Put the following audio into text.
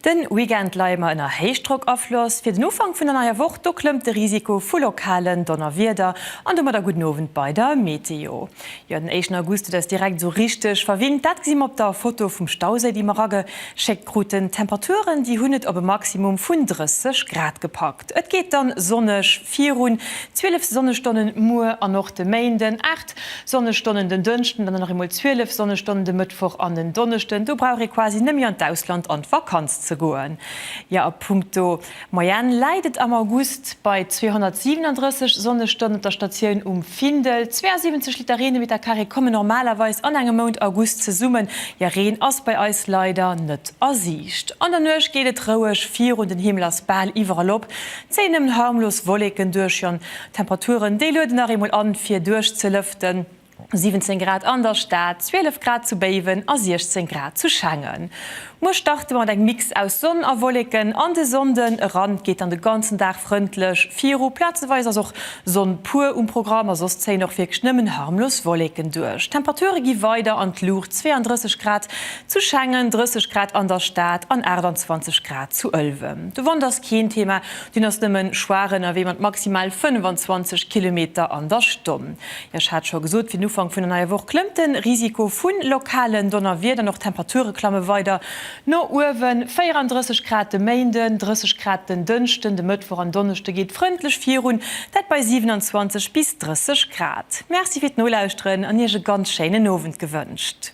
De Weekend leie mer ënner Héichdrockafloss. Fir den Ufank vun der neier Woch, do klëmmt de Risiko vu lokalen Donnerwieder an domadder gudden Owend bei der Meteo. Jo, den éischten August, dat ass direkt esou richteg verwinnt. Dat gesi mer op der Foto vum Stauséi, déi mer rage schéckt kruten. D'Temperaturen, déi hunn et op e Maximum vun 30 Grad gepackt. Et geet dann sonneg virun, 12 Sonnestonnen muer an och de Méinden, 8 Sonnestonnen den Dënschden, dann nach eemol 12 Sonnestonnen de Mëttwoch an den Donneschden. Do brauch ee quasi net méi an d'Ausland an d'Vakanz ze goen. Jo, a punkto D'Moyenne läit et am August bei 237 Sonnestonnen op der Statioun um Findel. 72 Liter Reen de Meter Carré komme normalerweis an engem Mount August zesummen. Jo, Reen ass bei eis leider net a Siicht. An der Nuecht geet et roueg virun, den Himmel ass bal iwwerall op, et zéie nëmmen harmlos Wolleken duerch. Jo, d'Temperaturen, déi lueden nach eemol an, fir duerchzelëften. 17 Grad an der Stad, 12 Grad zu Béiwen a 16 Grad zu Schengen. Muer starte mer mat engem Mix aus Sonn a Wolleken an de Sonnden eran. Et geet dann de ganzen Dag frëndlech viru, plazeweis ass och Sonn puer um Programm a soss zéien och wierklech nëmmen harmlos Wolleken duerch. D'Temperature gi weider an d'Luucht, 32 Grad zu Schengen, 30 Grad an der Stad an 28 Grad zu Ëlwen. De Wand ass keen Thema, deen ass nëmmen schwaach ënnerwee mat maximal 25 Kilometer an der Stonn. Jo, ech hat scho gesot, fir den Ufank vun der neier Woch klëmmt de Risiko vu lokalen Donnerwieder an och d'Temperature klamme weider no uewen, 34 Grad de Méinden, 30 Grad den Dënschden, de Mëttwoch an Donneschde geet frëndlech virun, dat bei 27 bis 30 Grad. Merci fir d'Nolauschteren an Iech e ganz schéinen Owend gewënscht.